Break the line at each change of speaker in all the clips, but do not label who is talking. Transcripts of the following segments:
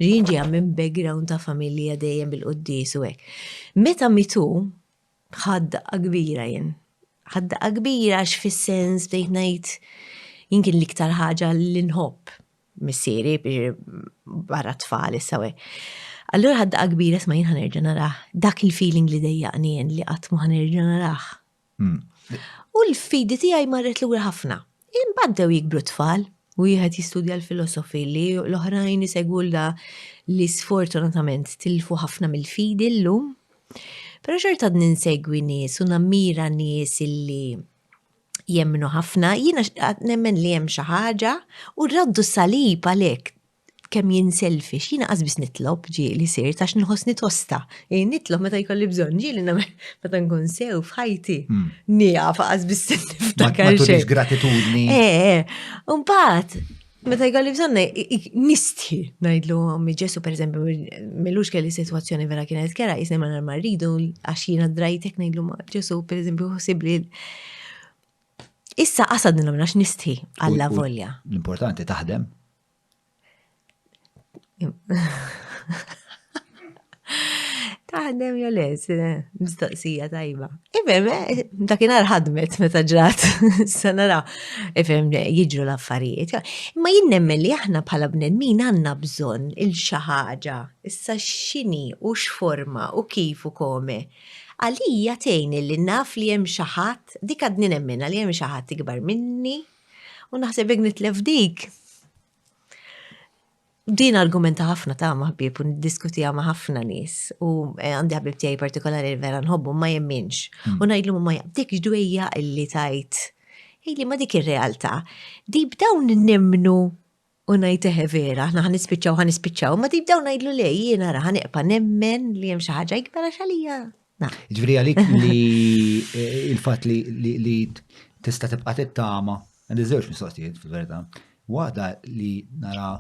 Jien ġejja minn background ta' familja dejjem bil-quddies u hekk. Meta mitu, ħadt daqqa kbira jien. Ħadt daqqa kbira għax fis-sens bdejt ngħid jien kien l-iktar ħaġa li nħobb missieri barra tfal issa u hekk. Allura ħadd daqqa kbira sma jien ħanerġa' narah. Dak il-feeling li dejjaqni jien li qatt ma ħanerġa' narah. Hmm. U l-fidi tiegħi marret lura ħafna. Imbagħad dew jikbru tfal, wieħed jistudja l-filosofi li l-oħrajn isegwu l li sfortunatament tilfu ħafna mill-fidi llum. Però xorta ninsegwi nies u nammira nies illi jemmnu ħafna, jiena nemmen li hemm xi ħaġa u raddu salib għalhekk kemm jien selfish, jiena qas biss nitlob ġieli sirt għax nħossni tosta. Jien nitlob meta jkolli bżonn ġieli nagħmel meta nkun sew f'ħajti. Hmm. Nieqaf qas biss niftakar xejn. Ma tkunx gratitudni. Eh, eh. Mbagħad Meta jgħalli bżonna, nistħi najdlu għammi ġesu, per eżempju, millux kelli situazzjoni vera kienet kera, jisni ma narma rridu, għaxina drajtek najdlu ma ġesu, per eżempju, xosibli. Issa għasad nilom għax nistħi għalla volja. L-importanti taħdem. Taħdem jew le, mistoqsija tajba. Ifhem, eh, dakinhar ħadmet meta ġrat, sa nara, ifhem jiġru l-affarijiet. Imma jien nemmen li aħna bħala bnedmin għandna bżonn il-xi ħaġa, issa x'inhi u x'forma u kif u kome. Għalija tgħin li naf li hemm xi ħadd, dik għadni nemmenha li hemm xi ħadd ikbar minni, U naħseb jek nitlef dik. Din argumenta ħafna ta' maħbib u diskutija ma' ħafna nis. U eh, għandi ħabib tiegħi partikolari vera nħobbu ma jemminx. Hmm. U ngħidlu ma jaqdik ġdwejja illi tajt. Illi ma dik ir-realtà. Di b'dawn nimmnu U ngħid eħe vera, aħna ħanispiċċaw ħanispiċċaw, ma deep down ngħidlu le jiena ra ħaneqpa nemmen li hemm xi ħaġa ikbar għax għalija. Ġifieri għalik
li eh, il-fatt li tista' tibqa' tittama, għandi żewġ mistoqsijiet fil-verità. Waħda li nara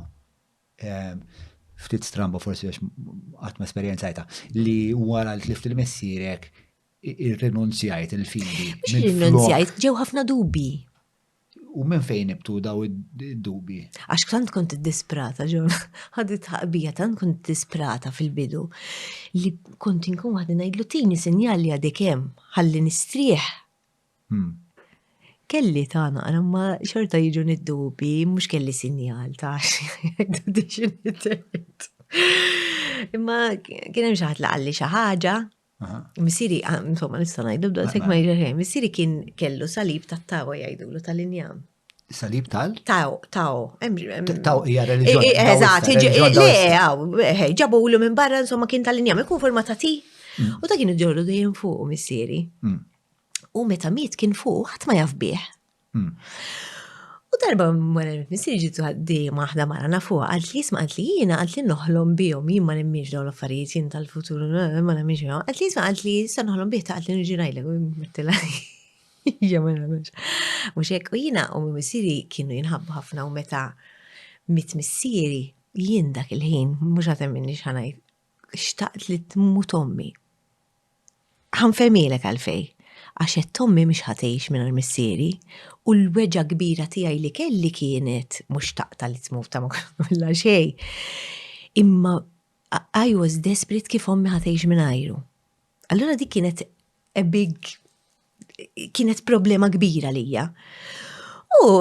eh, ftit stramba forsi għax għatma esperienzajta li wara li tlift il-messirek ir-renunzjajt il-fidi. Mux il-renunzjajt,
ġew ħafna dubi. U minn
fejn ibtu daw id-dubi? Għax tant kont
disprata, ġon, ħadi tħaqbija, tant kont disprata fil-bidu li kont inkun waħdi ngħidlu tini sinjal li għadek hemm ħalli nistrieħ. Hmm. Kelli ta' naqra ma xorta jiġu nid-dubi, mhux kelli sinjal ta' xi Imma kien hemm xi ħadd li qalli xi ħaġa Missiri, ah, insomma, nista' ngħidu, da tek ma jġerħej. Missiri kien kellu salib ta' tawa jgħidulu tal-injam. Salib tal?
Taw, taw. Taw hija reliġjoni. Eżatt, le, għaw,
ġabu ulu minn barra, insomma, kien tal-injam, ikun forma ta' ti. Mm. U ta' kienu ġorru dejjem fuq missieri. Mm. U meta miet kien fuq, ħadd ma jaf bih. U darba wara li missieri ġiet ħaddiema waħda mara nafuha qalt li jisma' qalt li jiena qalt li noħlom bihom jien ma nemminx dawn l-affarijiet jien tal-futur ma nemminx bihom. Qalt li jisma' qalt li issa noħlom bih ta' qalt li niġi ngħidlek u jimmettilha hija ma nagħmilx. Mhux hekk u jiena u missieri kienu jinħabbu ħafna u meta mitt missieri jien dak il-ħin mhux għad temminni x'ħa ngħid xtaqt li tmut ommi. Ħanfemielek għalfej, għax għedt ommi mhix ħatgħix mingħajr missieri, u l-weġgħa kbira tiegħi li kelli kienet mhux xtaqtha li tmut ta' ma kollha xejn, imma I was desperate kif ommi ħatgħix mingħajru. Allura dik kienet a big kienet problema kbira lija. U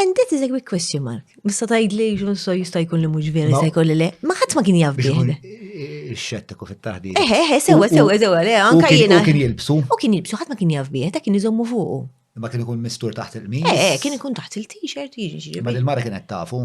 And that is a quick question mark. Mista tajd li jġun so jista jkun li mux vera jista jkun li le. Ma ħadd ma kien jaf bih. Xettiku
fit-taħdi. Eħe, eħe, sewa, sewa,
sewa, le, anka jena. U kien jilbsu. U kien
jilbsu, ħadd ma kien
jaf bih, ta' kien iżommu fuqu. Ma kien ikun mistur
taħt il-qmis. Eh, eh, kien ikun taħt
il-t-shirt, jiġi. Ma il-mara kienet tafu.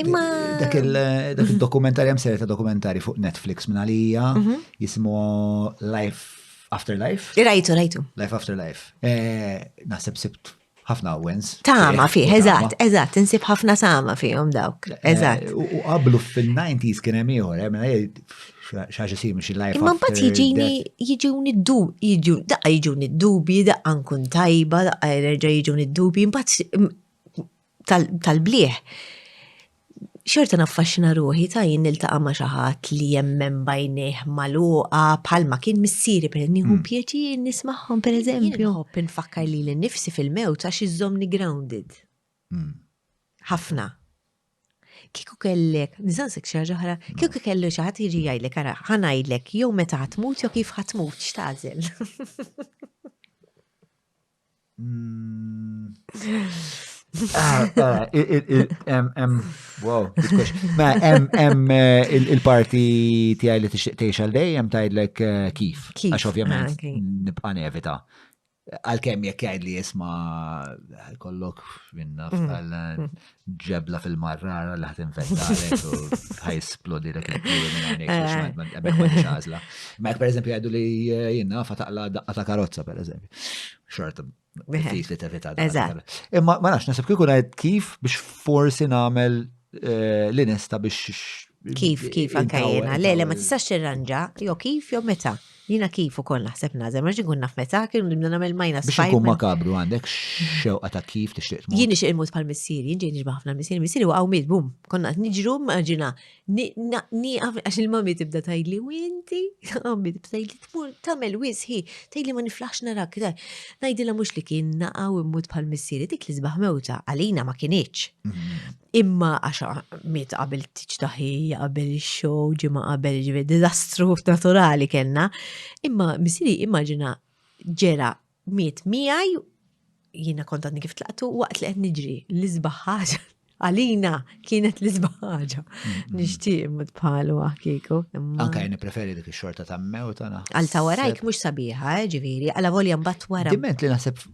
Imma.
Dak il-dokumentarja hemm serje ta' dokumentari fuq Netflix minn għalija mhm. jismu Life After Life. Rajtu, rajtu. Life
After Life.
Eh, naħseb sibt ħafna wens. Tama fih, eżatt,
eżatt, insib ħafna sama fihom dawk. Eh, eżatt. U qablu
fil-90s kien hemm ieħor, hemm eh, xaġa sim xi lajf. Imma mbagħad jiġini jiġuni
d-dub, jiġu daqqa jiġuni d-dubi, daqqa nkun tajba, daqqa jerġa' jiġuni d-dubi, mbagħad tal-blieh, xorta naffaxxina ruħi ta' jien niltaqa' ma' xi ħadd li jemmen b'għajnejh magħluqa bħalma kien missieri per nieħu hmm. pjaċir nismagħhom pereżempju. Nħobb nfakkar lili nnifsi fil-mewt għax iżżommni grounded. Hmm. Ħafna. Kieku kellek, nizansek xi ħaġa oħra, hmm. kieku kellu xi ħadd jiġi jgħidlek ara ħanajdlek jew meta ħatmut jew kif ħatmut x'tażel.
Mm. Ah, ah, wow, Ma, em eh, il-parti tijaj li tixtiq teħx għal dejjem tajdlek eh, kif. Għax ovvjament ah, nibqa nevita. Għal-kem jek jgħid li jisma kollok minna mm. f'għal ġebla fil-marrara li ħat infettalek u ħaj splodi l għazla. Ma per eżempju għadu li eh, jina fataqla daqqa ta' karozza per eżempju. Xorta bħis li tevita daqqa. Imma ma nafx nasib kikun għed kif biex forsi namel eh, l-inesta biex. Kif, kif,
anka jena. Le, le, ma tistax tirranġa, jo kif, jo meta. Jiena kif ukoll naħseb nagħżel, ma rridx inkun naf meta, kien nibda nagħmel minus Biex five. ikun makabru għandek
xewqa ta' kif tixtieq tmut. Jien nixtieq imut bħal
missieri, jien ġej nixbah ħafna l-missieri, missieri waqgħu miet, bum, konna qed niġru, immaġina, ni- na- nieqaf għax il-mami tibda tgħidli, u inti, għammi tibda tgħidli tmur tagħmel wisħi, tgħidli ma niflaħx narak, ta- ngħidilha mhux li kien naqgħu immut bħal missieri, dik li sbaħ mewta għalina ma kinitx. Mhm. Imma għax miet qabel tiġ taħija, qabel ix-show, ġimgħa qabel ġifieri diżastru naturali kellna, imma misiri immaġina ġera miet miegħi jiena kont għadni kif tlaqtu waqt li qed niġri l-isbaħ ħaġa għalina kienet l-isbaħ ħaġa. Mm-hmm. Nixtieq imut bħalu għakiku. Anka jien preferi
dik ix-xorta ta' mew ta' Għal ta' warajk
mhux sabiħa, eh, ġifieri, għala volja mbagħad wara. Diment li naħseb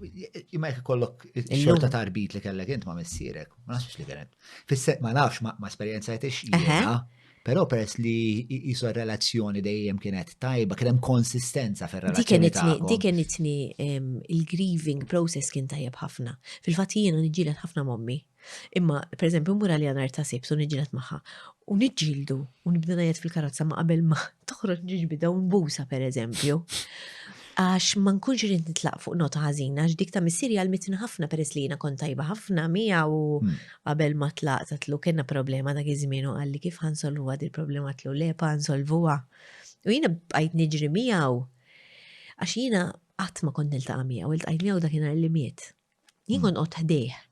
jmek kollok xorta ta' arbit li kellek int ma' missierek. Ma nafx li kienet. Fisse, ma nafx ma esperienza jtix jena, pero peress li jisu relazzjoni dejjem kienet tajba, kienem konsistenza fer relazzjoni Di kien itni il-grieving
process kien tajjeb ħafna. Fil-fat jiena nġilet ħafna mommi. Imma, per eżempju, mura li għanar ta' sibsu nġilet maħħa. U nġildu, u nibda najet fil-karozza ma qabel ma toħroġ nġibida u nbusa, per eżempju. Għax ma nkunx irid nitlaq fuq nota ħażina għax dik ta' missieri għalmitni ħafna peress li jiena kont tajba ħafna miegħu u hmm. qabel ma tlaqt għatlu kellna problema dak iż-żmien u qalli kif ħansolvuha din problema għatlu lepa nsolvuha. U jiena bqajt niġri miegħu għax jiena qatt ma kont niltaqa' miegħu, iltqajt miegħu dakinhar li miet. Jien hmm. kont qgħod ħdejh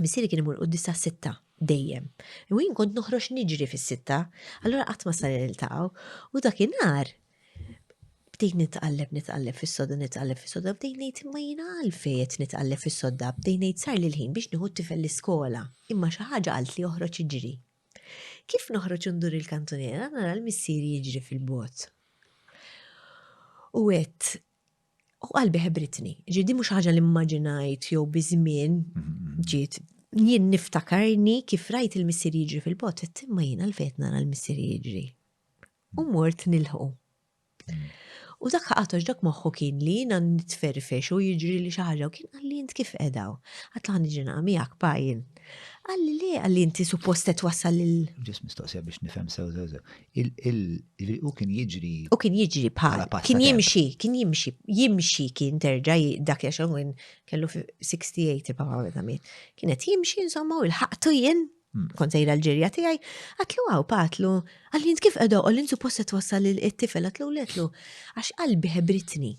Missieri kien imur quddis sa' sitta dejjem. U jien kont noħroġ niġri fis-sitta, allura qatt ma sar niltaqgħu. U dakinhar bdejt nitqalleb nitqalleb fis-soda nitqalleb fis-soda bdejt ngħid imma jiena għalfejn qed nitqalleb fis-soda bdejt ngħid sar li l-ħin biex nieħu t-tifel l-iskola. Imma xi ħaġa qalt li oħroġ iġri. Kif noħroġ ndur il-kantuniera nara l-missieri jiġri fil-bogħod. U għedt U qalbi ħebritni, ġi di mhux ħaġa li mmaġinajt jew biż-żmien mm-hmm. ġiet jien niftakarni kif rajt il-missier jiġri fil-bot, imma jien għalfejn nara l-missier jiġri. U mort nilħu. Mm. U dak ħaqatox dak moħħu kien li jina nitferfex u jiġri li xaħġa u kien għalli jint kif edaw. Għatlaħni ġina għamijak pajin, Qal li le għalli inti suppost qed wassal lil. Ġis mistoqsija biex
nifhem sew sew sew. Il-ġifieri u kien jiġri. U kien jiġri bħala
pass. Kien jimxi, kien jimxi, jimxi kien terġa' dak li għaxan kien kellu 68 il-papa meta miet. Kien qed jimxi insomma u l-ħaqtu jien hmm. kont sejra l-ġirja tiegħi, għatlu għaw patlu, għalli kif qedoq, għalli suppost qed wassal il-tifel, għatlu l għax qalbi ħebritni.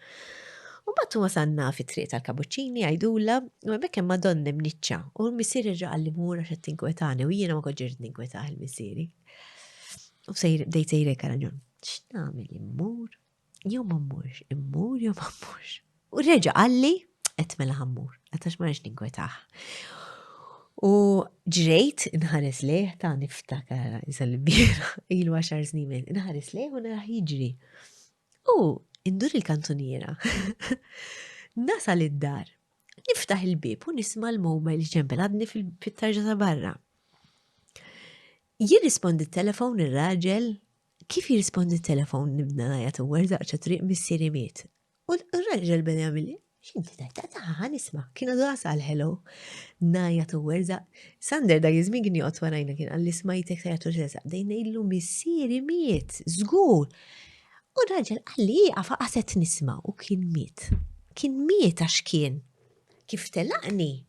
U bat wasanna fi triq tal-kabuċċini għajdula u hemmhekk hemm Madonna mniċċa u l-missier irġa' li mur għax qed tinkwetani u jiena ma koġġirt ninkwetah il-missieri. U sejr bdejt sejrek raġun. X'nagħmel immur? Jew ma mmurx, immur jew ma mmurx. U reġa' qalli qed mela ħammur, għatax ma rridx ninkwetah. U ġrejt inħares lejh ta' niftakar iżal-bira ilu għaxar snin, inħares lejh u naraħ jiġri. U indur il-kantuniera. Nasal id-dar. Niftaħ il-bib u nisma l-mobile ġembel għadni fil-pittarġa ta' barra. Jirrispondi t-telefon ir-raġel kif jirrispondi t-telefon nibna najat u għerdaqċa triq missieri miet. U r-raġel beda jagħmel X'inti tajt ta' ta' nisma, kienu dura sal hello. Naja tu werza, Sander da jizmi kien joqgħod warajna kien għalli smajtek ta' jagħtu ġreza, dejna illu missieri miet, żgur. U raġel għalli jieqaf qaset nisma u kien miet. Kien miet għax kien. Kif telaqni?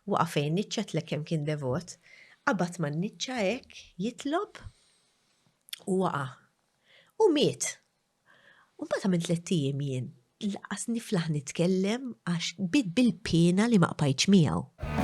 Waqafejn niċċatlek kemm kien devot, qabad ma' niċċa hekk jitlob u waqa. U miet. U mbagħad għamilt tliet ijiem jien lanqas niflaħ nitkellem għax bdiet bil-piena li ma qbajtx miegħu.